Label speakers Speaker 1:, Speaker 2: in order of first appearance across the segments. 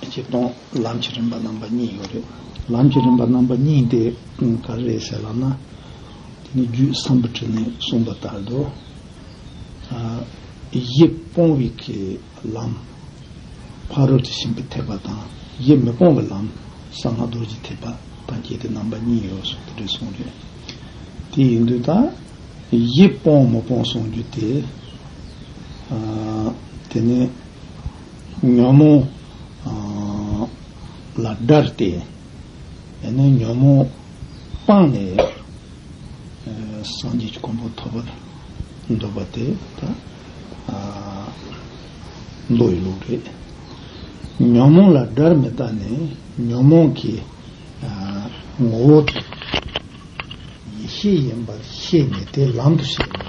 Speaker 1: གཅིག་སྟོང་ལམ་གྱི་རིམ་པ་རྣམ་པ་གཉིས་ཡོད་རེད། ལམ་གྱི་རིམ་པ་རྣམ་པ་གཉིས་དེ་ག་རེ་རེད་ཟེར་ལབ་ན། དེ་ནི་རྒྱུད་བསམ་པོ་ཁྲི་ནས་གསུངས་པ་ལྟར་དུ། ཡིད་སྤོང་བའི་གི་ལམ། ཕ་རོལ་ཏུ་ཕྱིན་པའི་ཐེག་པ་དང་ཡིད་མི་སྤོང་བའི་ལམ་གསང་སྔགས་རྡོ་རྗེ་ཐེག་པ་དང་བཅས་ཏེ་རྣམ་པ་གཉིས་ཡོད་སོགས་དེ་འདྲའི་གསུངས་རེད། དེ་ཡིན་དུས་ད་ཡིད་སྤོང་མི་སྤོང་གསུངས་རྒྱུ་དེ། དེ་ནི། ཉོན་མོངས་ལ་བསྒྲལ་ཏེ་ཉོན་མོངས་སྤངས་ནས་སངས་རྒྱས་ཀྱི་གོང་བུ་ཐོབ་པར་འདོད་པ་དེ་ད་མདོ་ཡི་ལུགས་རེད། ཉོན་མོངས་ལ་བསྒྲལ་མི་དགའ་ནས་ཉོན་མོངས་ཀྱི་ངོ་བོ་དེ་ཡེ་ཤེས་ཡིན་པར་ཤེས་ནས་དེ་ལམ་དུ་བྱེད་ནས།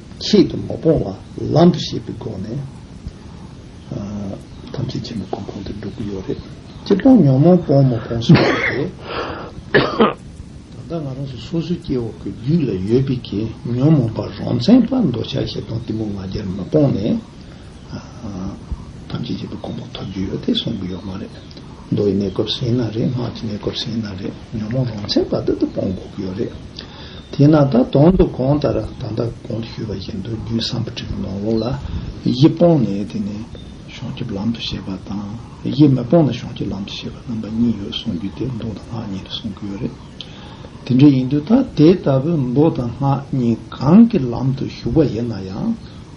Speaker 1: ཆེད་དུ་མ་སྤོང་བར་ལམ་དུ་ཤེས་པའི་སྒོ་ནས་ཐམས་ཅད་ཆེན་པོའི་གོ་འཕང་དུ་འགྲོ་གི་ཡོད་རེད། ཅི་སྤོང་ཉོན་མོངས་སྤོང་མ་སྤོང་སོགས་ཀྱི་ཐད། ད་ལྟ་ང་རང་ཚོ་སོ་སོའི་སྐྱེ་བོ་གི་རྒྱུད་ལ་ཡོད་པའི་གྱི་ཉོན་མོངས་པ་རང་མཚན་པ་འདོད་ཆགས་ཞེ་སྡང་གཏི་མུག་ང་རྒྱལ་མ་སྤོང་ནས་ཐམས་ཅད་ཀྱི་དུག་ཀོང་པོ་ཐོབ་རྒྱུ་ཡོད་དེ་གསུང་གི་ཡོད་མ་རེད། མདོ་ཡི་གནས་སྐབས་སུ་ཡིན་ན་རེད་སྔགས་ཀྱི་གནས་སྐབས་སུ་ཡིན་ན་རེད་ཉོན་མོངས་རང་མཚན་པ་དེ་དུག་སྤོང་དགོས་ཀྱི་ཡོད་རེད། དེས་ན་ད་དུང་དུག་གོང་ལྟར་ད་ལྟ་གོང་དུ་ཞུས་པ་བཞིན་དུ་རྒྱུད་བསམ་པ་ཁྲི་ཀའི་ནང་ལོགས་ལ་གཞི་སྤོང་ནས་དེ་ནས་བྱང་ཆུབ་ལམ་དུ་བྱེད་པ་དང་གཞི་མི་སྤོང་ན་བྱང་ཆུབ་ལམ་དུ་བྱེད་པ་རྣམ་པ་གཉིས་ཡོད་གསུང་རྒྱུ་དེ་མདོ་དང་སྔགས་གཉིས་རེད་གསུང་གི་ཡོད་རེད། དེ་འདྲ་ཡིན་དུས་ད་དེ་ལྟ་བུའི་མདོ་དང་སྔགས་གཉིས་གང་གི་ལམ་དུ་ཞུགས་པ་ཡིན་ན་ཡང།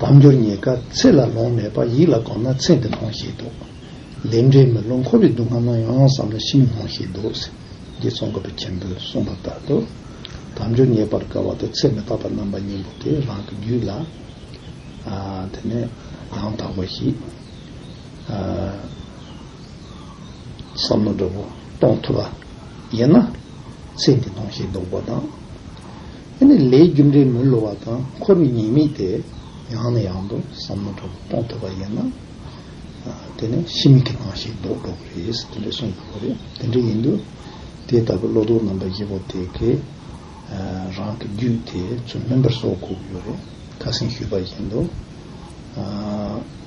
Speaker 1: བར་འགྱུར་ཉེས་དགའ་ཚེ་ལ་ལོང་མེད་པར་ཡིད་ལ་དགོངས་ན་ཚེ་འདི་ལོང་ཞེས་འདོད། ལས་འབྲས་མི་ལོང་འཁོར་བའི་སྡུག་བསྔལ་སྣང་ཡང་ཡང་བསམ་ན་ཤི་མི་ལོང་ཞེས་འདོད། རྗེ་ཙོང་ཁ་པ་ཆེན་པོས་གསུངས་པ་ལྟར་དུ། བར་འགྱུར་ཉེས་པར་དགའ་བ་དང་ཚེ་མི་རྟག་པར་རྣམ་པ་གཉིས་པོ་དེ་རང་གི་རྒྱུད་ལ། དེ་ནས་ཡང་དག་པ་ཞིག། བསམ་མནོ་འདྲ་བོ་གཏོང་ཐུབ་པ་ཡིན་ན། ཚེ་འདི་ལོང་ཞེས་འདོད་པ་དང། དེ་ནི་ལས་རྒྱུ་འབྲས་མི་བསླུ་བ་དང་འཁོར་བའི་ཉེས་དམིགས་དེ་ཡང་ནས་ཡང་དུ་བསམ་མི་ཐུབ་པར་སྤོང་ཐུབ་པ་ཡིན་ན། དེ་ནི་ཕྱི་མིག་གི་སྣང་ཤེས་ལྡོག་འགྲོ་བ་རེད་ཟེར་དེ་འདྲས་གསུངས་ཡོད་པ་རེད། དེ་འདྲས་ཡིན་དུས་དེ་ལྟ་བུའི་བློ་ལྡོག་རྣམ་པ་བཞི་པོ་དེ་གས་རང་གི་རྒྱུད་དེ་ཚུལ་མིན་པར་བཟོ་དགོས་ཀྱི་ཡོད་རེད། ཁ་སེང་ཞུས་པ་བཞིན་དུ།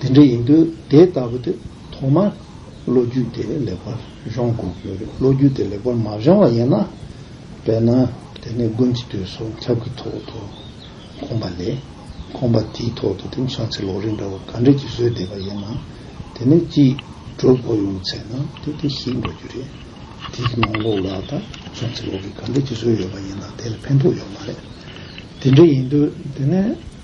Speaker 1: དེ་འདྲ་ཡིན་དུས་དེ་ལྟ་བུ་དེ་ཐོག་མར་ལོ་རྒྱུས་དེ་ལེགས་པར་གཞོང་དགོས་ཀྱི་ཡོད་རེད་ལོ་རྒྱུས་དེ་ལེགས་པར་མ་གཞོང་བ་ཡིན་ན་དཔེར་ན་དེ་ནས་དགུན་གྱི་དུས་སུ་ཆབ་ཀྱི་ཐོག་ཏུ་ཁོམ་པ་ལས་ཁོམ་པ་དེའི་ཐོག་ཏུ་དེང་སང་ཚེ་ལོ་རེ་འདྲ་བ་ག་འདྲ་གྱིས་བཟོས་བསྡད་པ་ཡིན་ན་དེ་ནས་སྐྱིད་སྒྲོལ་བོ་ཡོང་ཚེ་ན་དེ་དེ་ཞིག་འགྲོ་རྒྱུ་རེད་དེའི་ནང་ལོགས་ལ་ད་སང་ཚེ་ལོ་རེ་ག་འདྲ་གྱིས་བཟོས་ཡོད་པ་ཡིན་ན་དེ་ལ་ཕན་ཐོགས་ཡོད་མ་རེད་དེ་འདྲ་ཡིན་དུས་དེ་ནས་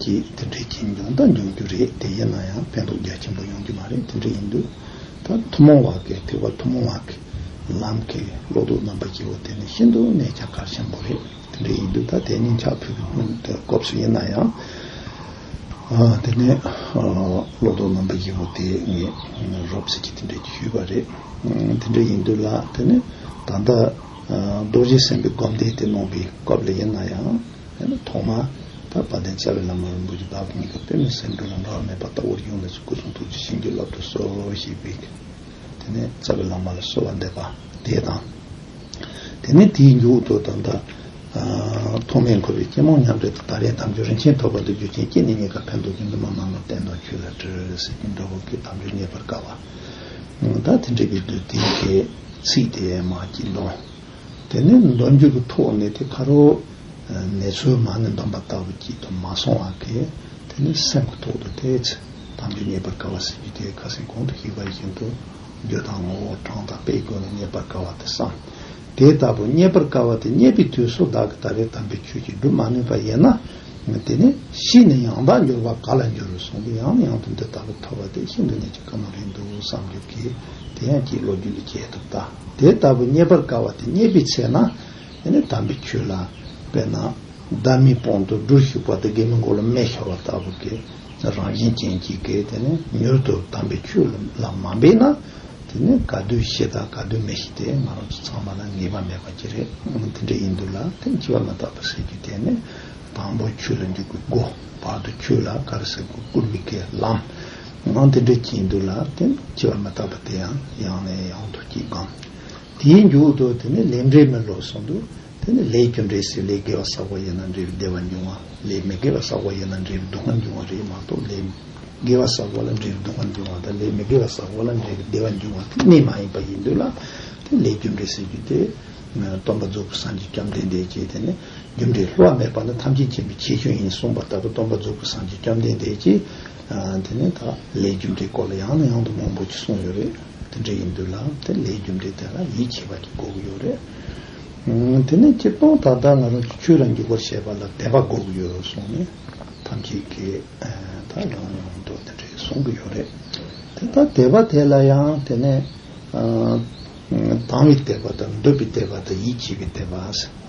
Speaker 1: ཀྱི་དེ་འདྲའི་ཁྱིམ་ཡོང་ད་འབྱུང་རྒྱུ་རེད་དེ་ཡིན་ན་ཡང་ཕན་ཐོག་རྒྱ་ཆེན་པོ་ཡོང་གི་མ་རེད་དེ་འདྲ་ཡིན་དུས་ད་ཐུན་མོང་བ་གི་ཐེག་པ་ཐུན་མོང་བ་གི་ལམ་གི་བློ་སྡུག་རྣམ་པ་སྐྱེ་བོ་དེ་ནི་ཤིན་ཏུ་གནད་ཆ་གལ་ཆེན་པོ་རེད་དེ་འདྲ་ཡིན་དུས་ད་དེ་སྙིང་ཆགས་ཕུད་གི་སྔོན་དུ་སྐབས་སུ་ཡིན་ན་ཡང་དེ་ནི་བློ་སྡུག་རྣམ་པ་སྐྱེ་བོ་དེ་ངས་རོབ་ཟེར་གྱི་དེ་འདྲ་ཞུས་པ་རེད་དེ་འདྲ་ཡིན་དུས་ལ་དེ་ནི་ད་ལྟ་རྡོ་རྗེ་སེམས་པའི་སྒོམ་བཟླས་དེ་གནང་བའི་སྐབས་ལ་ཡིན་ན་ཡང་ཡང་ན་ཐོག་མ་དང་བ་དན་བཅའ་བའི་ལམ་ལ་རིན་པོ་ཆེ་བདག་པོ་གཉིས་ཀ་དཔེ་མེད་སེམས་འགྲོ་ལ་འགག་མེད་པ་ལྟ་བུར་དབྱུང་བས་སུ་སྐུ་གསུང་ཐུགས་ཀྱི་བྱིན་གྱིས་བརླབ་ཏུ་གསོལ་ཞེས་དབྱིག། དེ་ནས་བཅའ་བའི་ལམ་མ་ལ་གསོལ་བ་འདེབས་པ་དེ་དང། དེ་ནས་དེའི་མཇུག་ཏུ་ད་ལྟ། ཐོག་མའི་འཁོར་བའི་སྐྱེས་མོ་ཉམས་བྲལ་དུ་ད་རེས་དམ་ཆོས་རིན་ཆེན་ཐོབ་པ་འདི་རྒྱུ་ཅན་སྐྱེས་ནས་གཉིས་ཀ་ཕན་འདོགས་ཀྱི་ནུ་མ་མ་མོ་བསྟན་དང་ཁྱོད་ལ་བྲེལ་ཟེར་གྱིན་འགྲོ་བ་ཀུན་དམ་ཆོས་རྙེད་པར་དཀའ་བ། བདག་དེ་འདྲེ་བའི་བདུད་སྡེའི་ཚིག་དེ་མ་བགྱིད་དོ། དེ་ནས་འདོན་འཇུག་གི་ཐོག་ནས་དེ་ཁ་རོ། ནས་ཚོའི་མ་ནི་འདོན་པ་ལྟ་བུ་བགྱིད་དུ་མ་སོང་བ་གས་དེ་ནི་སེམས་ཀྱི་ཐོག་ཏུ་དེའི་ཚེ་དམ་ཆོས་རྙེད་པར་དཀའ་བ་སྲིད་རྒྱུད་དེའི་ཁ་ཟས་གོང་དུ་ཞིག་པ་བཞིན་དུ། རྒྱུ་དང་ངོ་བོ་གྲངས་དང་དཔེའི་སྒོ་ནས་རྙེད་པར་དཀའ་བ་དེ་སམ། དེ་ལྟ་བུ་རྙེད་པར་དཀའ་བ་དེ་རྙེད་པའི་དུས་སུ་བདག་གི་ད་རེས་དམ་པའི་ཆོས་ཀྱིས་བསྒྲུབ་མ་ནུས་པ་ཡིན་ན། དེ་ནས་ཤི་ནས་ཡང་དག་འབྱོར་བ་ག་ལ་འགྱུར་གསུང་སྟེ་ཡང་ནས་ཡང་དུ་འདི་ལྟ་བུ་ཐོས་པ་དེ་ཤིན་ཏུ་ནས་ཅི་དགའ་མ་རེད་འདུག་བསམ་གྱུར་གྱི། དེ་ཡང་ཅིའི་བློ་རྒྱུད་ལས་སྐྱེས་ཐུབ་ད། དེ་ལྟ་བུ་རྙེད་པར་དཀའ་བ་དེ་རྙེད་པའི་ཚེ་ན། དེ་ནས་དམ་པའི་ཆོས་ལ། དཔེར་ན། བདག་མེད་སྤོང་དུ་སྦྲུལ་ཞུགས་པ་དེ་དགེ་མི་མགོ་ལ་སྨད་ཤོར་བ་ལྟ་བུ་གི། རང་བཞིན་ཅན་གྱིས་ཀྱི་དེ་ནས་མྱུར་དུ་དམ་པའི་ཆོས་ལ་མ་འབད་ན། དེ་ནས་ག་དུས་ཤི་དང་ག་དུས་མི་ཤི་དེ་ང་རང་ཚོ་ཚང་མ་ལ་ངེས་པ་མེད་པ་ཅི་རེད་འདི་འདྲ་ཡིན་འདུག་ལ་དེ་ནས་འཆི་བ་མི་རྟག་པ་ཟེར་རྒྱུ་དེ་ནི་དང་པོ་ཁྱོད་ལ་འཇུག་པའི་སྒོ། བར་དུ་ཁྱོད་ལ་དཀར་གསལ་དགུ་སྐུར་མི་དགའི་ལམ། ངང་དེ་འདྲའི་སྐྱིད་འདུག་ལ་བརྟེན་སྐྱིད་པར་མི་བལྟ་བ་དེ་ཡང་ཡང་ནས་ཡང་དུ་སྐྱིད་སྒམ། དེའི་མཇུག་ཏུ་དེ་ནི་ལས་འབྲས་མི་ལོ་གསུངས་འདུག་དེ་ནི་ལས་ཀྱི་འབྲས་སུ་ལས་དགེ་བ་བསགས་པ་ཡིན་ན་འབྲས་བདེ་བ་འབྱུང་བ་ལས་མི་དགེ་བ་བསགས་པ་ཡིན་ན་འབྲས་སྡུག་བསྔལ་འབྱུང་བ་རེད་མ་གཏོགས་ལས་དགེ་བ་བསགས་པ་ལ་འབྲས་སྡུག་བསྔལ་འབྱུང་བ་དང་ལས་མི་དགེ་བ་བསགས་པ་ལ་འབྲས་བདེ་བ་འབྱུང་བ་དེ་གནས་མ་ཡིན་པ་ཡིན་འདུག་ལ་དེ་ལས་ཀྱི་འབྲས་ཟེར་རྒྱུ་དེ། སྟོན་པ་རྫོགས་པའི་སངས་རྒྱས་བཅོམ་ལྡན་འདས་ཀྱིས་དེ་ནི། རྒྱུ་འབྲས་བསླུ་བ་མེད་པ་ནི་ཐམས་ཅད་མཁྱེན་པའི་ཁྱད་ཆོས་ཡིན་གསུངས་པ་ལྟ་བུ་སྟོན་པ་རྫོགས་སྐུ་སངས་རྒྱས་བཅོམ་ལྡན་འདས་ཀྱིས། དེ་ནས་ད་ལའི་རྒྱུ་འབྲས་སྐོར་ལ་ཡང་ནས་ཡང་དུ་མང་པོ་ཅིག་གསུངས་ཡོད་རེད། དེ་འདྲ་ཡིན་དུས་ལ་དེ་ལའི་རྒྱུ་འབྲས་དེ་ལ་ཡིད་ཆེས་པ་ཅིག་འགོག་གི་ཡོད་རེད། དེ་ནས་སྤྱིར་བཏང་ད་ལྟ་ང་རང་ཀྱིས་ཆོས་རང་རྒྱུད་སྐོར་བཤད་པ་ལ་དད་པ་འགོག་གི་ཡོད་གསུངས་ནས་ཐམས་ཅད་ཀྱིས་ད་ཡོང་ཡོང་དུ་དེ་འདྲའི་གསུང་གི་ཡོད་རེད། དེ་ལྟར་དད་པ་དེ་ལ་ཡང་དེ་ནས། དང་བའི་དད་པ་དང་འདོད་པའི་དད་པ་དང་ཡིད་ཆེས་པའི་དད་པ།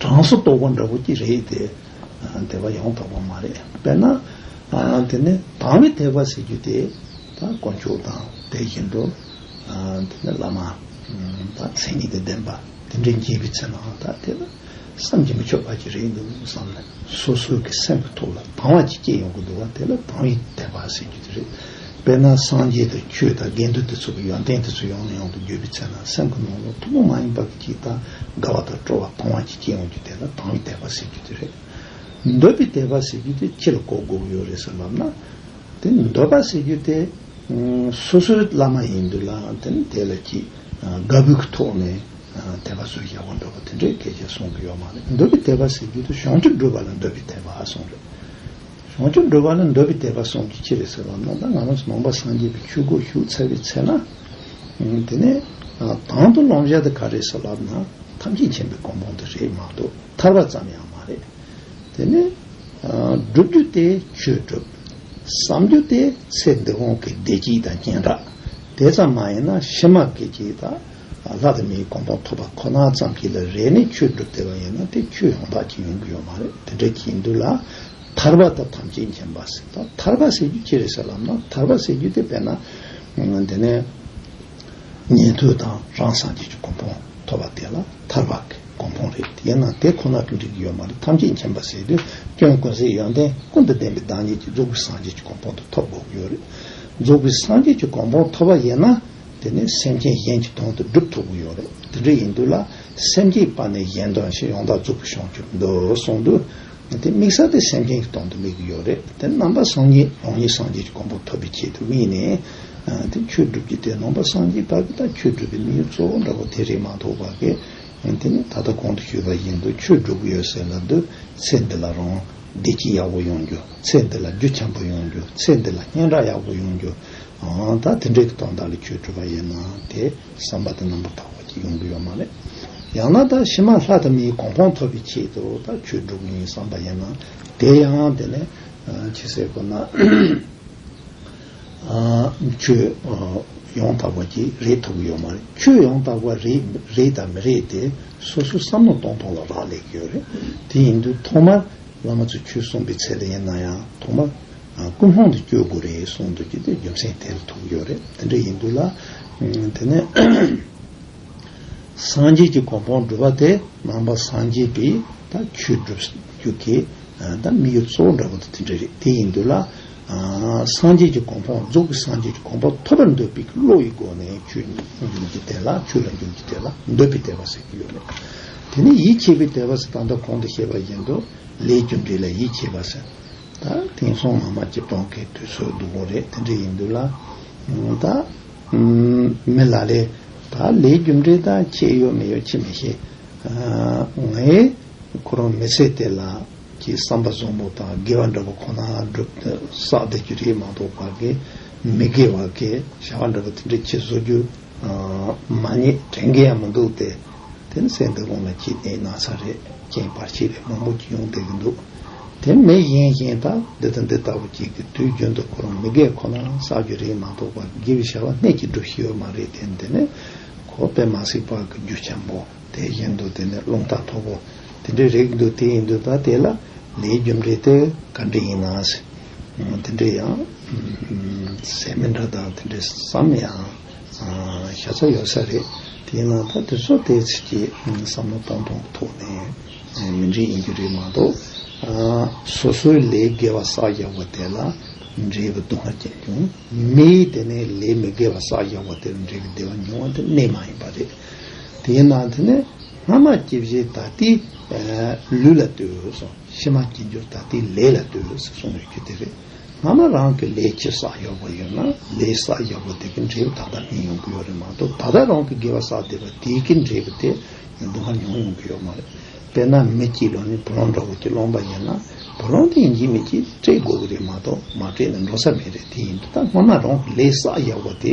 Speaker 1: གྲངས་སུ་གཏོགས་པ་འདྲ་པོ་ཀྱི་རེད་དེ། དེ་བ་ཡོང་དོགས་པ་མ་རེད། དཔེར་ན། དེ་ནི་དྭང་བའི་ཐེག་པ་ཟེར་རྒྱུ་དེ། དཀོན་མཆོག་དང་དེ་བཞིན་དུ། དེ་ནི་བླ་མ། དང་མཚན་ཉིད་དུ་ལྡན་པ་དེ་འདྲའི་འགྱེད་པའི་ཚེ་ནའང་ད་དེ་ལ་བསམ་གྱིས་མི་ཆོག་པ་ཅིག་རེད་འདུག་བསམ་ནས་སོ་སོའི་གི་སེམས་ཀྱི་ཐོག་ལ་དྭང་བ་ཅིག་སྐྱེས་ཡོང་གི་འདུག་བ་དེ་ལ་དྭང་བའི་ཐེག་པ་ཟེར་རྒྱུ་དེ་རེད། དཔེར་ན་སངས་རྒྱས་དང་ཆོས་དང་དགེ་འདུན་དེ་ཚོ་གི་ཡོན་ཏན་དེ་ཚོ་ཡོང་ནས་ཡོང་དུ་འགྱོད་པའི་ཚེ་ན་སེམས་ཀྱི་ནང་ལ་ཐུན་མོང་མ་ཡིན་པ། གྱི་དང་དགའ་བ་དང་སྤྲོ་བ་གཏོང་བ་གྱི་སྐྱེས་བུ་འདི་དེ་ལ་དང་བའི་དད་པ་ཟེར་རྒྱུ་དེ་རེད། འདོད་པའི་དད་པ་ཟེར་རྒྱུ་དེ་ཁྱེད་ལ་གོ་དགོས་ཡོད་རེད་ཟེར་ལབ་ན། དེ་འདོད་པ་ཟེར་རྒྱུ་དེ་སོ་སོའི་བླ་མ་ཡིན་དུས་ལ་དེ་ནི་དེ་ལ་གྱི་དགའ་བོའི་གྱི་ཐོག་ནས་དད་པ་བཟོས་ཡག་པོ་འདོད་པ་དེ་འདྲའི་གལ་ཆེན་གསུང་གི་ཡོད་མ་རེད་འདོད་པའི་དད་པ་ཟེར་རྒྱུ་དེ་གཞུང་ཁྲིམས་སྒྲུབ་པ་ལ་འདོད་པའི་དད་པ་ཨ་གསུང་རེད། བྱང་ཆུབ་འགྲོ་བ་ནི་འདོད་པའི་དད་པ་སོང་གི་ཕྱིར་ཟེར་བ་རྣམས་དང་ང་རང་ཚོ་ནང་པ་སངས་རྒྱས་པའི་ཆོས་སྒོར་ཞུགས་ཚར་བའི་ཚེ་ན། དེ་ནས་དང་དུ་ལོང་བཞག་དེ་ག་རེ་སོགས་ལབ་ན་ཐམས་ཅད་མཁྱེན་པའི་གོ་འཕང་དེ་རེད་མ་གཏོགས་ཐར་བ་ཙམ་ཡང་མ་རེད། དེ་ནས། བསྒྲུབ་རྒྱུ་དེ་ཆོས་བསྒྲུབ། བསམ་རྒྱུ་དེ་ཚེ་འདི་གོང་གི་བདེ་སྐྱིད་དང་སྐྱེ་འགྲོ་དེ་ཙམ་མ་ཡིན་ན་ཕྱི་མ་གི་སྐྱིད་དང། ལྷ་དང་མིའི་དགོངས་པ་ཐོབ་པ་ཁོ་ན་ཙམ་གྱིས་ལ་རེ་ནས་ཆོས་བསྒྲུབ་བདེ་བ་ཡིན་ན་དེ་ཆོས་ཡོངས་དག་ཅིག་ཡོང་གི་ཡོད་མ་རེད་དེ་འདྲ་གྱིས་འདུག་ལ། ཐར་པ་དང་ཐམས་ཅད་མཁྱེན་པ་ཟེར་ད་ཐར་པ་ཟེར་རྒྱུ་ཅི་རེད་ཟེར་ལབ་ན་ཐར་པ་ཟེར་རྒྱུ་དེ་དཔེར་ན་དེ་ནས་ཉན་ཐོས་དང་རང་སངས་རྒྱས་ཀྱི་དགོངས་པོ་ཐོབ་པ་དེ་ལ་ཐར་པ་གི་དགོངས་པོ་རེད་ཡིན་ན་དེ་ཁོ་ན་དུ་འགྲིག་གི་ཡོད་མ་རེད་ཐམས་ཅད་མཁྱེན་པ་ཟེར་དུས་སྐྱོན་ཀུན་ཟད་ཡོན་ཏན་ཀུན་དང་ལྡན་པའི་བདག་ཉིད་ཀྱི་རྫོགས་པའི་སངས་རྒྱས་ཀྱི་དགོངས་པོ་དེ་ཐོབ་དགོས་ཀྱི་ཡོད་རེད་རྫོགས་པའི་སངས་རྒྱས་ཀྱི་དགོངས་པོ་ཐོབ་པ་ཡིན་ན། དེ་ནི་སེམས་ཅན་གཞན་གྱི་དོན་དུ་སྒྲུབ་ཐུབ་ཀྱི་ཡོད་རེད་དེ་འདྲ་ཡིན་དུས་ལ་སེམས་ཀྱི་པ་ནས་གཞན་དོན་ཞིག་ཡོང་ཐག་རྩུབ་པོ་བྱུང་གྱུར་འདུག་གསུངས་དུས། དེ་དམིགས་བསལ་དེ་སེམས་ཅན་གྱི་དོན་དུ་དམིགས་ཀྱི་ཡོད་རེད་དེ་རྣམ་པ་སངས་རྒྱས་རང་ཉིད་སངས་རྒྱས་ཀྱི་གོང་བུ་ཐོབ་པའི་ཆེད་དུ་དམིགས་ནས། དེ་ཁྱོད་སྒྲུབ་ཀྱི་དེ་ནང་པ་སངས་རྒྱས་བར་གྱི་དང་ཁྱོད་སྒྲུབ་པའི་དམིགས་ཡུལ་གཙོ་བོ་འདྲ་བོ་དེ་རེད་མ་གཏོགས་བར་གྱི། དེ་ནི་ད་ལྟ་གོང་དུ་ཞུས་པ་བཞིན་དུ་ཁྱོད་སྒྲུབ་ཀྱི་ཡོད་ཟེར་ལབ་དུས་ཚེ་འདི་ལ་རང། བདེ་སྐྱིད་ཡག་པོ་ཡོང་རྒྱུ་ཚེ་འདི་ལ་རྒྱུ་ཆེན་པོ་ཡོང་རྒྱུ་ཚེ་འདི་ལ་སྙན་གྲགས་ཡག་པོ་ཡོང་རྒྱུ་ཨང་ད་དེ་འདྲའི་གི་དོན་དག་ལ་ཁྱོད་གྲུབ་པ་ཡིན་ན་དེ་བསམ་པ་དེ་རྣམ་པར་དག་པ་གྱིས་ཡོང་གི་ཡོད་མ་རེད་ཡང་ན་ད་ཕྱི་མ་ལྷ་དང་མིའི་གོང་འཕང་ཐོབ་པའི་ཆེད་དུ་ད་ཁྱོད་སྒྲུབ་གི་ཡིན་བསམ་པ་ཡིན་ན་དེ་ཡང་དེ་ནས་ཁྱི་སེར་པོ་ན། ཁྱོད་ཡང་དག་པ་གྱིས་རེག་ཐུབ་ཀྱི་ཡོད་མ་རེད། ཁྱོད་ཡང་དག་པ་རེད་དམ་མི་རེད་དེ་སོ་སོའི་བསམ་བློ་གཏོང་ཐོང་ལ་རག་ལས་ཀྱི་ཡོད་རེད། དེ་ཡིན་དུས་ཐོག་མར་བླ་མ་ཚོས་ཁྱོད་གསུངས་པའི་ཚད་ལས་ཡིན་ན་ཡང་ཐོག་མར་ཀུན་སློང་དུ་བསྐྱོད་དགོས་རེད་གསུངས་འདུག་ཀྱི་དེ་རྒྱུ་མཚན་དེ་ལ་ཐུག་ཀྱི་ཡོད་རེད་དེ་འདྲ་ཡིན་དུས་ལ། དེ་ནས་སངས་རྒྱས་ཀྱི་གོ་འཕང་བསྒྲུབ་པ་དེ་ནང་པ་སངས་རྒྱས་པས་ད་ཁྱོད་བསྒྲུབ་རྒྱུ་དེ་ད་དམིགས་ཡུལ་གཙོ་བོ་འདྲ་པོ་དེ་དེ་འདྲ་རེད་དེ་ཡིན་དུས་ལ། སངས་རྒྱས་ཀྱི་གོང་འཕང་རྫོགས་པའི་སངས་རྒྱས་ཀྱི་གོང་འཕང་ཐོབ་པར་འདོད་པའི་བློ་ཡི་སྒོ་ནས་ཆོས་ཉིད་ཀྱི་དེ་ལ་ཆོས་ལ་འཇུག་ཀྱི་དེ་ལ་འདོད་པའི་དད་པ་ཟེར་གྱི་ཡོད་རེད། དེ་ནས་ཡིད་ཆེས་པའི་དད་པ་ཟེར་ད་ལྟ་གོང་དུ་བཤད་པ་བཞིན་དུ་ལས་རྒྱུ་འབྲས་ལ་ཡིད་ཆེས་པ་ཟེར། ད་དེང་སང་མ་མ་ཅིག་གྲོང་ཁའི་དུས་ཚོད་སྡུག་པོ་རེད་དེ་འདྲ་ཡིན་དུས་ལ། ད་མི་ལ་ལས་ད་ལས་རྒྱུ་འབྲས་ད་ཁྱེད་ཡོད་མི་ཡོད་ཁྱེད་མི་ཤེས། ངའི་ཁོ་རང་མི་ཚེ་དེ་ལ། ཀྱི་བསམ་པ་བཟང་པོ་དང་དགེ་བ་འདྲ་པོ་ཁོ་ན་སྒྲུབ་བསགས་བདེ་རྒྱུ་རིགས་མང་དོག་བར་གྱི་མི་དགེ་བ་གི་བྱ་བ་འདྲ་པོ་དེ་འདྲའི་ཁྱི་བཟོ་རྒྱུ་མ་རྙེད་དྲན་གྱི་ཡང་མི་འདུག་སྟེ། དེ་ནི་སེམས་དེ་གོང་ལ་ཁྱི་དེའི་ན་ཚ་རེད་རྐྱེན་བར་ཁྱི་རེད་མང་པོ་ཀྱི་ཡོང་བསྡད་ཀྱི་འདུག་དེ་མི་གཞན་གཞན་དག་འདི་དང་འདི་ལྟ་བུ་ཀྱི་གི་དུས་རྒྱུན་དུ་ཁོ་རང་མི་དགེ་ཁོ་ན་བསགས་རྒྱུ་རིགས་མང་དོག་བར་གྱི་དགེ་བའི་བྱ་བ་སྣེ་གཅིག་སྒྲུབ་བཞིན་ཡོད་མ་རེད་དེ་འདི་ནི་ཁོ་པས་མ་གཟིགས་པར་གྱི་རྒྱུ་ཆེན་པོ། དེ་བཞིན་དུ་དེ་ནས་རླུང་རྟ་ཐོབ་བོ། དེ་འདྲའི་རེག་འདོད་དེ་ཡི་འདོད་པ་དེ་ལ་ལས་རྒྱུ་འབྲས་དེ་ག་འདྲ་ཡིན་ནའང་སྲིད། དེ་འདྲའི་ཡང་ཟས་མི་འདྲ་དང་དེ་འདྲའི་བསམ་ཡང་བཞག་ས་ཡོད་ས་རེད། དེ་ཡིན་ན་ད་དེ་ཚོ་དེའི་ཚིག་གི་བསམ་བློ་གཏོང་སྟངས་ཀྱི་ཐོག་ནས་མི་འདྲ་ཡིན་རྒྱུ་རེད་མ་གཏོགས། སོ་སོའི་ལས་དགེ་བ་བསགས་བཞག་པ་དེ་ལ་འབྲས་བུ་དུ་མ་སྐྱེས་ཀྱང་མིའི་དེ་ནས་ལས་མི་དགེ་བ་བསགས་བཞག་པ་དེར་འབྲས་བུ་བདེ་བ་འབྱུང་བ་དེ་གནས་མ་ཡིན་པ་རེད། དེའི་ནང་དུ་ནི་སྔ་མ་སྐྱེ་བཞིའི་ད་ལྟའི་ལུས་ལ་ལྟོས་སོ། ཕྱི་མ་སྐྱེ་འགྱུར་ད་ལྟའི་ལས་ལ་ལྟོས་སོ་གསུངས་བའི་རྒྱུ་དེ་རེད། སྔ་མ་རང་གི་ལས་ཀྱི་བསགས་ཡོད་པ་ཡོད་ན་ལས་བསགས་ཡོད་པ་དེ་གི་འབྲས་བུ་ད་ལྟ་སྨིན་ཡོང་གི་ཡོད་རེད་མ་གཏོགས་ད་ལྟ་རང་གི་དགེ་བ་བསགས་བསྡད་པ་དེ་གི་འབྲས་བུ་དེ་ཡོང་དུས་སྔར་མྱོང་ཡོང་གི་ཡོད་མ་རེད། དཔེར་ན་མི་སྐྱིད་ལོ་ནི་བུ་ལོང་འདྲ་བོ་དེ་སློང་པ་ཡིན་ན་བུ་ལོང་དེ་ཡིན་གྱི་མི་སྐྱིད་དེ་སྤྲད་དགོས་ཀྱི་རེད་མ་གཏོགས་མ་སྤྲད་ནས་འགྲོ་ས་མེད་རེད་དེ་ཡིན་དུས་ད་སྔ་མ་རང་གི་ལས་བསགས་ཡོད་པ་དེ་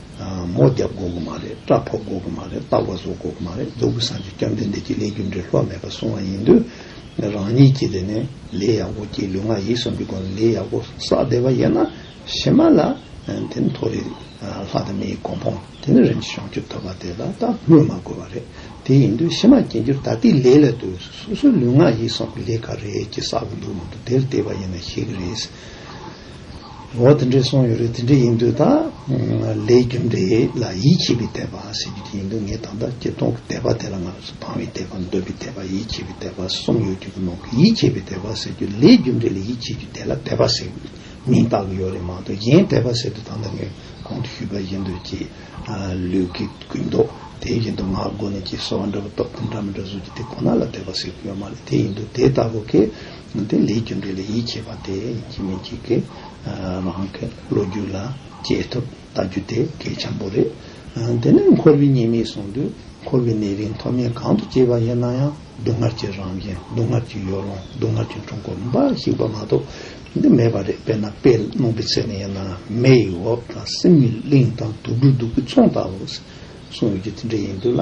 Speaker 1: མོ་རྒྱབ་འགོག་གི་མ་རེད་སྐྲ་ཕོག་འགོག་གི་མ་རེད་ལྟག་པ་ཟོག་འགོག་གི་མ་རེད་རྫོགས་ཀི་སངས་ཀྱི་སྐྱབས་འདི་འདི་གྱི་ལས་རྒྱུ་འབྲས་ལྷོད་མེད་པར་སྲུང་བ་ཡིན་དུས་རང་ཉིད་ཀྱིས་དེ་ནས་ལས་ཡག་པོ་གྱིས་ལུས་ངག་ཡིད་གསུམ་གྱི་སྒོ་ནས་ལས་ཡག་པོ་བསགས་བསྡད་པ་ཡིན་ན་ཞེ་མ་ལ་དེ་ནི་མཐོ་རིས་ལྷ་དང་མི་ཡི་གོ་འཕོང་དེ་ནི་རིམ་གྱིས་བྱང་ཆུབ་ཐོབ་པ་དེ་ལ་ད་སྨོས་མ་དགོས་པ་རེད་དེ་ཡིན་དུས་ཕྱི་མ་སྐྱེ་འགྱུར་ད་ལྟའི་ལས་ལ་དུས་སུ་སོ་སོའི་ལུས་ངག་ཡིད་གསུམ་གྱི་ལས་ག་རེ་གྱིས་བསགས་ཀྱི་འདུག་མང་དུ་དེར་བལྟས་པ་ཡིན་ན་ཤེས་ཀྱི་རེད། འོ་དེ་འདྲས་སོང་ཡོད་རེད་དེ་འདྲས་ཡིན་དུས་ད་ལས་རྒྱུ་འདྲས་ལ་ཡིད་ཆེས་པའི་དད་པ་ཟེར་རྒྱུ་དེ་ཡིན་དུས་ངས་ད་ལྟ་སྐྱིད་སྟོང་གི་དད་པ་དེ་ལ་ང་རོ་ཚོ་ཕངས་བའི་དད་པ་འདོད་པའི་དད་པ་ཡིད་ཆེས་པའི་དད་པ་གསུམ་ཡོད་རྒྱུ་གི་ནང་གི་ཡིད་ཆེས་པའི་དད་པ་ཟེར་རྒྱུ་ལས་རྒྱུ་འདྲས་ལ་ཡིད་ཆེས་རྒྱུ་དེ་ལ་དད་པ་ཟེར་མིང་བཏགས་གི་ཡོད་རེད་མ་གཏོགས་གཞན་དད་པ་ཟེར་དུས་ད་ལྟ་ངས་གོང་དུ་ཞུས་པ་བཞིན་དུ་ཀྱི་ལུས་ཀྱི་ཀུན་རྟོག་དེ་བཞིན་དུ་ངག་སྒོ་ནས་ཀྱི་གསོལ་བ་འདྲ་པོ་སྟོབས་ལྡན་འདྲ་མི་འདྲ་གཟུགས་ཀྱི་དེ་ཁོ་ན་ལ་དད་པ་ཟེར་གྱི་ཡོད་མ་རེད་དེ་ཡིན་དུས་དེ་ལྟ་བུ་གི་དེ་ལས་རྒྱུ་འབྲས་ལ་ཡིད་ཆེས་པ་དེ་ཅི་མི་གཅིག་གི་རང་གི་ལོ་རྒྱུས་ལ་དཔྱད་ཐུབ་ལྟ་རྒྱུ་དེ་གལ་ཆེན་པོ་རེད། དེ་ནས་འཁོར་བའི་ཉེས་དམིགས་གསུངས་དུས་འཁོར་བའི་ནད་རིགས་མཐོ་དམན་གང་དུ་སྐྱེས་པ་ཡིན་ན་ཡང་སྡུག་བསྔལ་གྱི་རང་བཞིན་སྡུག་བསྔལ་གྱི་ཡོ་ལོང་སྡུག་བསྔལ་གྱི་འཁྲུལ་འཁོར་འབའ་ཞིག་པ་མ་གཏོགས་འདི་མེད་པ་རེད་དཔེར་ན་དཔེ་སློང་པའི་ཚད་ནས་ཡིན་ན་མེའི་འོབས་དང་སིམ་མེའི་གླིང་དང་དུག་སྦྲུལ་དུག་གི་ཚོང་ལྟ་བུ་གསུངས་ཡོད་རྒྱུ་དེ་འདྲ་ཡིན་དུས་ལ།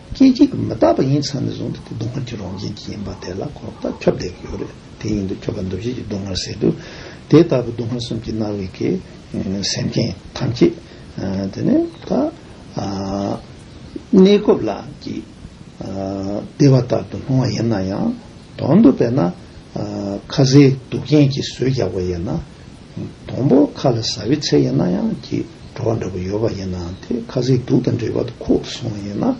Speaker 1: སྐད་ཅིག་གིས་མི་རྟག་པ་ཡིན་ཚང་ནས་བཟུང་སྟེ་དེ་སྡུག་བསྔལ་གྱི་རང་བཞིན་གྱིས་ཡིན་པ་དེ་ལ་གོ་བརྡ་ཁྱབ་བརྡལ་གྱི་ཡོད་རེད་དེ་ཡིན་དུ་ཁྱོད་ཀ་འདུ་བྱེད་ཀྱི་སྡུག་བསྔལ་ཟེར་དུས་དེ་ལྟ་བུའི་སྡུག་བསྔལ་གསུམ་གྱི་སྣང་བའི་གེགས་སེལ་མཁན་ཐམས་ཅད་དེ་ནི་ད་གནས་སྐབས་ལ་གྱི་བདེ་བ་ལྟར་དུ་སྣང་བ་ཡིན་ན་ཡང་དོན་དུ་དཔེར་ན་ཁ་ཟས་སྡུག་རྐྱེན་གྱིས་ཟོས་རྒྱག་པ་ཡིན་ན། སྡོང་པོ་ཁ་ལ་ཟ་བའི་ཚད་ཡིན་ན་ཡང་སྐྱིད། བྲོ་བ་འདྲ་བོ་ཡོད་པ་ཡིན་ན་དེ་ཁ་ཟས་དུག་དང་འདྲེས་པ་དུ་ཁོག་ཏུ་སོང་བ་ཡིན་ན།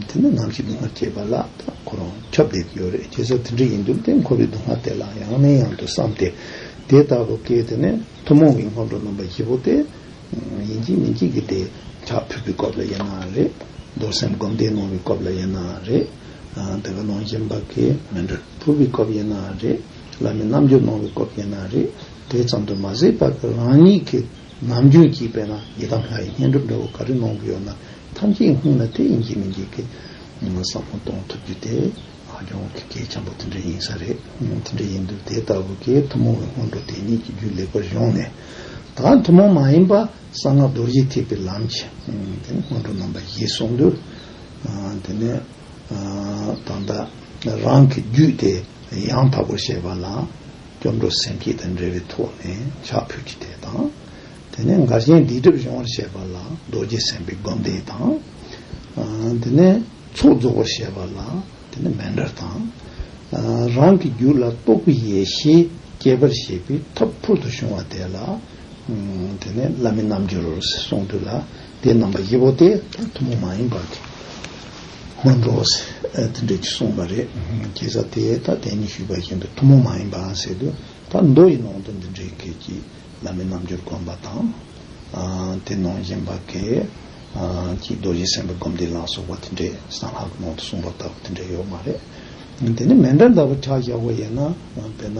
Speaker 1: དེ་ནི་ནམ་ཞིག་སྡུག་བསྔལ་སྐྱེས་པ་ལ་ད་ཁོ་རང་ཁྱབ་བསྡད་ཀྱི་ཡོད་རེད་སྐྱེས་ས་དེ་འདྲ་ཡིན་རྒྱུ་དེ་འཁོར་བའི་སྡུག་བསྔལ་དེ་ལ་ཡང་ནས་ཡང་དུ་བསམ་སྟེ། དེ་ལྟ་བུ་སྐད་དེ་ནི་ཐུན་མོང་གི་སྔོན་འགྲོ་རྣམ་པ་བཞི་པོ་སྟེ། ཡིན་གྱི་མིན་གྱི་གི་དེ་ཁྱག་ཕུད་པའི་སྐབས་ལ་ཡིན་ན་རེད། རྡོར་སེམས་སྒོམ་བཟླས་གནང་བའི་སྐབས་ལ་ཡིན་ན་རེད། དེ་ག་ནང་བཞིན་པ་གས་མི་འདྲ་ཕུད་པའི་སྐབས་ཡིན་ན་རེད། བླ་མའི་རྣམ་འགྱུར་སྣང་བའི་སྐོར་བསྟན་ན་རེད། དེ་ཙམ་དུ་མ་ཟད་པར་དུ་རང་ཉིད་ཀྱི་ནམ་རྒྱུན་གྱི་དཔེར་ན་ཡི་དམ་ལྷ་ཡི་བསྙེན་སྒྲུབ་འདྲ་བོ་ག་རེ་གནང་གི་ཡོད་ན་ཐམས་ཅད་སྔུན་ལ་དེ་ཡིན་གྱི་མིན་གྱི་གི་བསམ་བློ་གཏོང་ཐུབ་རྒྱུ་དེ་ཧ་ཅང་གི་གལ་ཆེན་པོ་དེ་འདྲ་ཡིན་ས་རེད། དེ་འདྲ་ཡིན་དུས་དེ་ལྟ་བུ་གའི་ཐུན་མོང་བའི་སྔོན་འགྲོ་དེ་ཉིད་ཀྱི་རྒྱུད་ལེགས་པར་གཞུང་ནས། ད་ཐུན་མོང་མ་ཡིན་པ་གསང་སྔགས་རྡོ་རྗེ་ཐེག་པའི་ལམ་གྱི་དེ་ནི་སྔོན་འགྲོ་རྣམ་པ་བཞི་གསུངས་དུས། དེ་ནས། དང་འདྲ། རང་གི་རྒྱུད་དེ་ཡང་དག་པར་བཤད་པ་ན། སྐྱབས་འགྲོ་སེམས་བསྐྱེད་དང་འབྲེལ་བའི་ཐོག་ནས་ཕྱག་ཕུལ་གྱི་དེ་དང། དེ་ནས་འགར་གཞན་སྡིག་སྒྲིབ་སྦྱོང་བར་བཤད་པ་ལ་རྡོ་རྗེ་སེམས་དཔའི་སྒོམ་བཟླས་དང། དེ་ནས་ཚོགས་རྫོགས་པར་བཤད་པ་ལ་དེ་ནས་མན་འདྲར་དང། རང་གི་རྒྱུད་ལ་རྟོགས་པའི་ཡེ་ཤེས་བསྐྱེད་པར་བྱེད་པའི་ཐབས་ཕུལ་དུ་བྱུང་བ་དེ་ལ། དེ་ནས་བླ་མའི་རྣམ་འགྱུར་རོ་ཟེར་གསུང་དུས་ལ། དེའི་རྣམ་པ་བཞི་པོ་དེ་ཐུན་མོང་མ་ཡིན་པར་གྱི་སྔོན་འགྲོ་དེ་འདྲས་ཀྱིས་གསུངས་པ་རེད། དེ་ས་དེ་ད་དེ་ཉིད་ཞུས་པ་བཞིན་དུ་ཐུན་མོང་མ་ཡིན་པའང་ཟེར་དུས་ད་མདོ་ཡི་ནང་དུ་འདི་འདྲའི་སྐད་ཀྱིས་བླ་མའི་རྣམ་འགྱུར་བསྒོམ་པ་དང། དེ་ནང་བཞིན་པ་གས་ཀྱིས་རྡོ་རྗེ་སེམས་དཔའི་བསྒོམ་བཟླས་ལ་སོགས་པ་དེ་འདྲས་གསང་སྔགས་ཀྱི་ནང་དུ་གསུངས་པ་ལྟ་བུ་དེ་འདྲས་ཡོད་མ་རེད། དེ་ནི་མེ་འདྲ་ལྟ་བུ་ཁྲག་ཞག་པོ་ཡིན་ན། དཔེར་ན་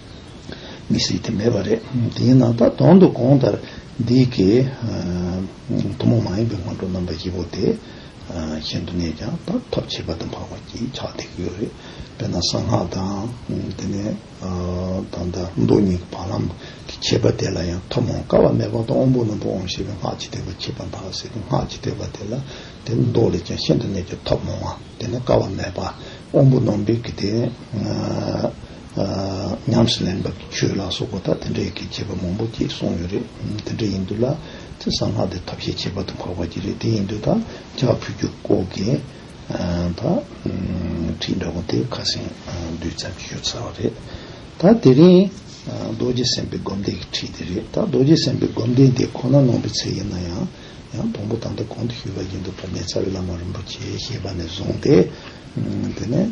Speaker 1: མི་སྲིད་དེ་མེད་པ་རེད། དེའི་ནང་ད་དོང་དུ་གོང་ལྟར་འདི་གའི་ཐུན་མོང་མ་ཡིན་པའི་སྔོན་འགྲོ་རྣམ་པ་བཞི་པོ་དེ་གཞན་དུ་གནས་ཀྱང་ད་ཐབས་བྱེད་པ་དང་འཕགས་པ་གྱིས་ཕྱག་འདེགས་ཡོད་རེད། དཔེར་ན་གསང་སྔགས་དང། དེ་ནས་ད་ལྟ་མདོ་གཉིས་ཀྱི་བར་ལམ་གྱི་འཆད་པ་དེ་ལ་ཡང་ཐུན་མོང་ཀ་བ་མེ་ཕོ་དང་དབོན་པོ་རྣོན་པོ་འོང་ཞེས་པའི་སྔགས་ཀྱི་ཐེག་པ་འཆད་པ་འཕགས་པ་ཟེར་གྱི་སྔགས་ཀྱི་ཐེག་པ་དེ་ལ་དེ་མདོ་ལས་ཀྱང་ཤིན་ཏུ་གནད་ཀྱི་ཐབས་མང་བ་དེ་ནས་ཀ་བ་མེ་ཕ་དབོན་པོ་རྣོན་པོའི་གི་དེ་ཉམས་སུ་ལེན་པར་བྱོས་ལ་སོགས་པ་དག་དེ་འདྲའི་གི་བྱེད་པ་མང་པོ་སྐྱེས་གསུངས་ཡོད་རེད། དེ་འདྲ་ཡིན་དུས་ལ་ཚེ་གསང་སྔགས་འདི་ཐབས་ཤེས་བྱེད་པ་དུ་འཕགས་པ་གྱིས་རེད་དེ་ཡིན་དུས་དང་ལྕགས་ཕུད་རྒྱུ་སྐོར་གྱི་བ་ཁྲིད་འདྲ་བོ་དེ་ཁ་སེང་བདུད་ཙམ་གྱི་ཡོད་ཚར་བ་རེད། ད་དེ་རིང་རྡོ་རྗེ་སེམས་དཔའི་སྒོམ་བཟླས་ཀྱི་ཁྲིད་དེ་རེད་ད་རྡོ་རྗེ་སེམས་དཔའི་སྒོམ་བཟླས་འདི་ཁོ་ན་ནོངས་པའི་ཚད་ཡིན་ན་ཡང་ཡང་དང་པོ་ད་ལྟ་གོང་དུ་ཞུས་པ་བཞིན་དུ་བར་མའི་རྩ་བའི་བླ་མ་རིན་པོ་ཆེའི་བཤད་པ་ནས་བཟུང་སྟེ་དེ་ནས།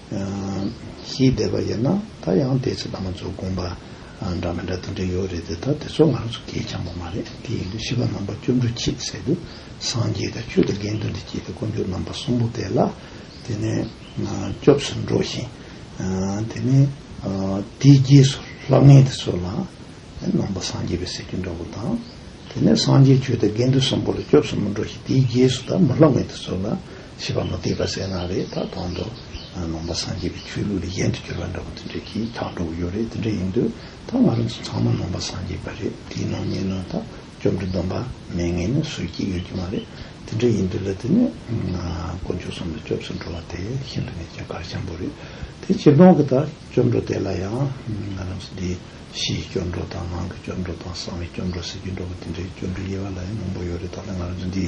Speaker 1: ཞེས་བསྡད་པ་ཡིན་ན་ད་ཡང་དེའི་ཚེ་ད་མ་ཚོ་དགོངས་པ་འདྲ་མི་འདྲ་དེ་འདྲ་ཡོད་རེད་དེ་ད་དེ་ཚོ་ང་རང་ཚོ་གས་ཆགས་པ་མ་རེད་དེ་ཡིན་དུས་ཤི་བ་རྣམ་པ་བཅུ་འགྲོ་ཁྱིད་ཟེར་དུས་སངས་རྒྱས་དང་ཆོས་དང་དགེ་འདུན་དུ་སྐྱེས་ཏེ་དཀོན་མཆོག་རྣམ་པ་གསུམ་པོ་དེ་ལ་དེ་ནས་སྐྱོབས་སུ་འགྲོ་ཞིང་དེ་ནས་དེའི་རྗེས་སུ་ལྷ་ལྔའི་དེ་ཚོ་ལ་ནང་པ་སངས་རྒྱས་པའི་སྲས་བཅུ་འདྲ་བོ་དང་དེ་ནས་སངས་རྒྱས་ཆོས་དང་དགེ་འདུན་གསུམ་པོ་ལ་སྐྱོབས་སུ་མི་འགྲོ་ཞིང་དེའི་རྗེས་སུ་ད་མ་ལྷ་ལྔའི་དེ་ཚོ་ལ་ཞེས་པ་མུ་སྟེགས་པ་གསལ་སྣང་རེད་ད་དོང་དུ་ནང་པ་སངས་རྒྱས་པའི་ཆོས་ལུགས་ལས་གཞན་དུ་གྱུར་པ་འདྲ་པོ་དེ་འདྲས་ཀྱིས་ཁྱག་སྒྲོག་གི་ཡོད་རེད་དེ་འདྲ་ཡིན་དུས་ད་ང་རང་ཚོ་ཚང་མ་ནང་པ་སངས་རྒྱས་པ་རེད་དེའི་ནང་ཉེ་གནོན་དག་བཅོམ་འདྲི་འདོམས་པ་མེད་ངེས་ནས་སུས་ཀྱིས་ཡོད་ཀྱི་མ་རེད་དེ་འདྲས་ཡིན་དུས་ལ་དེ་ནས་དཀོན་མཆོག་གསུམ་ལ་སྐྱོབས་སུ་འགྲོ་བ་དེ་ཤིན་ཏུ་ནས་ཀྱང་གར་འཁྱམས་པོ་རེད་དེ་ཕྱིར་གདོང་གི་ད་སྐྱོབས་འགྲོ་དེ་ལ་ཡང་ང་རང་ཚོ་འདི་ཕྱིའི་སྐྱོབས་འགྲོ་དང་ནང་གི་སྐྱོབས་འགྲོ་དང་གསང་བའི་སྐྱོབས་འགྲོ་ཟེར་གྱི་འགྲོ་པོ་དེ་འདྲས་སྐྱོབས་འགྲོ་དབྱེ་བ་ལ་ཡང་མང་པོ་ཡོད་རེད་ད་ལྟ་ང་རང་ཚོ་འདི།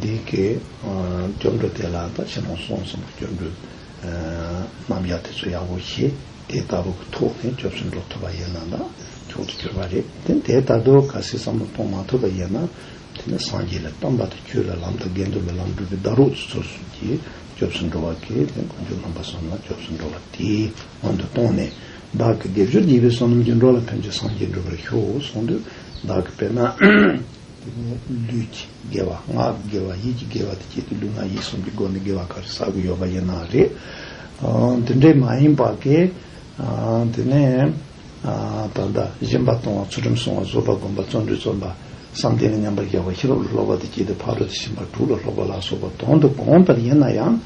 Speaker 1: འདི་སྐད། སྐྱབས་འགྲོ་དེ་ལ་ད་ཕྱིན་རུང་སོང་ཟིན་པ་སྐྱབས་འགྲོའི། རྣམ་གཞག་དེ་ཚོ་ཡག་པོ་ཤེས། དེ་ལྟ་བུ་གི་ཐོག་ནས་སྐྱབས་སུ་འགྲོ་ཐུབ་པ་ཡིན་ན་ད་ཁྱོད་ཚོ་གྱུར་པ་རེད་དེ། དེ་ལྟ་དུ་ག་སེ་བསམ་བློ་གཏོང་མ་ཐུབ་པ་ཡིན་ན། དེ་ནི་སངས་རྒྱས་ལས་གཏམ་པ་དང་ཁྱོད་ལ་ལམ་དང་དགེ་འདུན་ལ་ལམ་སྒྲུབ་པའི་བདག་རུག་ཚུ་ཚོར་གསུམ་གྱིས་སྐྱབས་སུ་འགྲོ་བ་གི་དེ་མགོན་པོ་ལྷུན་པ་བསམ་ལ་སྐྱབས་སུ་འགྲོ་བ་དེའི་སྔོན་དུ་གཏོང་ནས། བདག་གི་དགེ་སྦྱོར་བགྱིས་པའི་བསོད་ནམས་ཀྱིས་འགྲོ་ལ་ཕན་ཆོད་སངས་རྒྱས་འགྲུབ་པར་ཤོག་གསུང་དུས་བདག་གི་དཔེར་ན། ལུས་ཀྱི་དགེ་བ་ངག་གི་དགེ་བ་ཡིད་ཀྱི་དགེ་བ་དེ་བཅས་ཏེ་ལུས་ངག་ཡིད་གསུམ་གྱི་སྒོ་ནས་དགེ་བ་ག་རེ་བསགས་ཀྱི་ཡོད་པ་ཡིན་ན་རེད། དེ་འདྲས་མ་ཡིན་པ་གས། དེ་ནས་ད་ལྟ་གཞན་པ་གཏོང་བ་ཚུལ་ཁྲིམས་སྲུང་བ་བཟོད་པ་སྒོམ་པ་བརྩོན་འགྲུས་བརྩོན་པ། བསམ་གཏན་ལ་མཉམ་པར་རྒྱལ་བ་ཤེས་རབ་ལ་སློབ་པ་དེ་བཅས་ཏེ་ཕ་རོལ་ཏུ་ཕྱིན་པ་དྲུག་ལ་སློབ་པ་ལ་སོགས་པ་དོན་དུ་གང་ལྟར་ཡིན་ན་ཡང།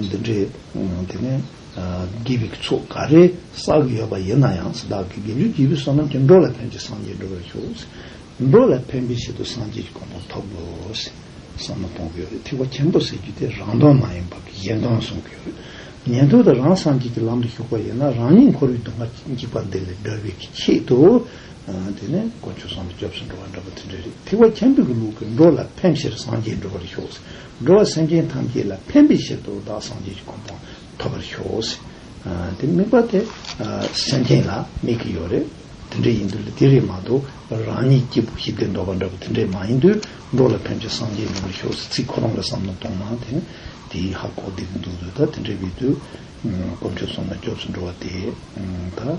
Speaker 1: འདི་འདྲས་དེ་ནས། དགེ་བའི་ཚོགས་འགའ་རེ་བསགས་ཀྱི་ཡོད་པ་ཡིན་ན་ཡང་འདི་དག་གིས་དགེ་འདུན་གྱི་བུ་བསོད་ནམས་ཀྱི་འགྲོ་ལ་ཕན་ཅིང་སངས་རྒྱས་འགྲོ་བར་ཤོག། འགྲོ་ལ་ཕན་པའི་ཆེད་དུ་སངས་རྒྱས་ཀྱི་དགོངས་པ་ཐོབ་དགོས། བསམ་མནོ་གཏོང་གི་ཡོད་རེད་ཐེག་པ་ཆེན་པོ་ཟེར་རྒྱུ་དེ་རང་དོན་མ་ཡིན་པར་གཞན་དོན་གསུང་གི་ཡོད་རེད། ཉན་ཐོས་དང་རང་སངས་རྒྱས་ཀྱི་ལམ་དུ་ཞུགས་པ་ཡིན་ན་རང་ཉིད་འཁོར་བའི་སྡུག་བསྔལ་གྱི་འཇིགས་པ་འདི་ལས་སྒྲོལ་བའི་ཆེད་དུ། དེ་ནས་དཀོན་མཆོག་གསང་བའི་སྐྱབས་སུ་འགྲོ་བ་འདྲ་པོ་དེ་འདྲ་རེད་ཐེག་པ་ཆེན་པོའི་ལུགས་ཀྱིས་འགྲོ་ལ་ཕན་ཕྱིར་སངས་རྒྱས་འགྲོ་བར་ཤོག། འགྲོ་བ་སེམས་ཅན་ཐམས་ཅད་ལ་ཕན་པའི་ཕྱིར་དུ་བདག་སངས་རྒྱས་ཀྱི་གོ་འཕང་ཐོབ་པར་ཤོག། དེ་དམིགས་པ་དེ་སེམས་ཅན་ལ་དམིགས་ཀྱི་ཡོད་རེད། དེ་འདྲས་ཡིན་དུས་ལ་དེ་རེད་མ་གཏོགས་རང་ཉིད་སྐྱིད་པོ་ཞི་བདེར་འགྲོ་བ་འདྲ་བོ་དེ་འདྲས་མ་ཡིན་དུས་འགྲོ་ལ་ཕན་ཕྱིར་སངས་རྒྱས་ཡོང་བར་ཤོག་ཟེར་ཚིག་ཁོ་རང་ལ་བསམ་བློ་གཏོང་ན་དེ་ནི་དེའི་ཧ་གོ་བདེ་གི་འདུག་དུས་ད་དེ་འདྲས་པའི་དུས་གོ་མཆོད་སོང་ན་སྐྱོབས་སུ་འགྲོ་བ་དེ་ད།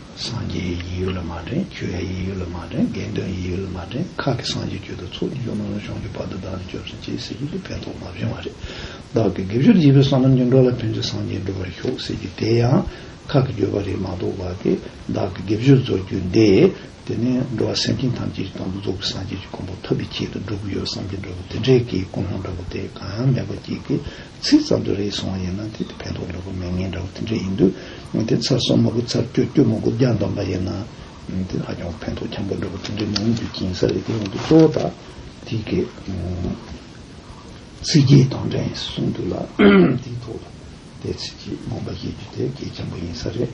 Speaker 1: སངས་རྒྱས་ཡི་ཡི་ཡོད་ལ་མ་འདྲེན་ཁྱོད་ཡ་ཡི་ཡོད་ལ་མ་འདྲེན་དགེ་འདུན་ཡི་ཡོད་ལ་མ་འདྲེན་ཁག་གི་སངས་རྒྱས་ཁྱོད་དང་ཚོགས་ཀྱི་ཆོས་རྣམས་རང་བྱུང་གི་བར་དུ་བདག་ནི་སྐྱོབ་ཅིང་གཅེས་ཟེར་གྱི་འདུག་ཕན་ཐོགས་མ་བྱུང་བ་རེད། བདག་གི་དགེ་བཅུར་བགྱིས་པའི་ས་ནམ་གྱི་འགྲོ་ལ་ཕན་ཚུན་སངས་རྒྱས་འགྲུབ་པར་ཤོག་ཟེར་གྱི་དེ་ཡང་ཁག་གི་བརྗོད་པ་རེད་མ་གཏོགས་བ་དེ་བདག་གི་དགེ་བཅུར་རྫོགས་རྒྱུ་འདི་དེ་ནས་འགྲོ་བ་སེམས་ཅན་ཐམས་ཅད་ཀྱི་དང་དུ་རྫོགས་པའི་སངས་རྒྱས་ཀྱི་མགོན་པོ་ཐུབ་པའི་ཆེད་དུ་བསྒྲུབ་ཀྱི་ཡོད་བསམ་གྱི་འདྲ་བོ་དེ་འདྲའི་གི་ཀུན་སློང་འདྲ་བོ་དེ་གང་ཡང་མེད་པ་གཅིག་གིས། ཚིག་ཙམ་དུ་རེ་ཟུང་ཡིན་ན་དེ་དེ་ཕན་ཐོགས་འགྲོ་གི་མེད་ངན་འདྲ་བོ་དེ་འདྲ་ཡིན་དུས་དེ་ཚར་གསོ་མ་དགོས་ཚར་སྐྱོ་སྐྱོ་མ་དགོས་རྒྱ་འདོམས་པ་ཡིན་ན་དེ་ཧ་ཅང་ཕན་ཐོགས་འཁྱམ་པོ་འགྲོ་གི་དེ་འདྲ་མིན་དུས་སྐྱིན་ས་རེད་དེ་ཡིན་དུས་གཙོ་བོ་དག་དེ་སྐད་ཚིག་རྒྱས་དང་འདྲ་ཡིན་གསུངས་འདུག་ལ་དེའི་ཐོག་ལ་དེ་ཚིག་རྒྱས་རྨོངས་པ་བཤད་རྒྱུ་དེ་གལ་ཆེན་པོ་ཡིན་ས་རེད།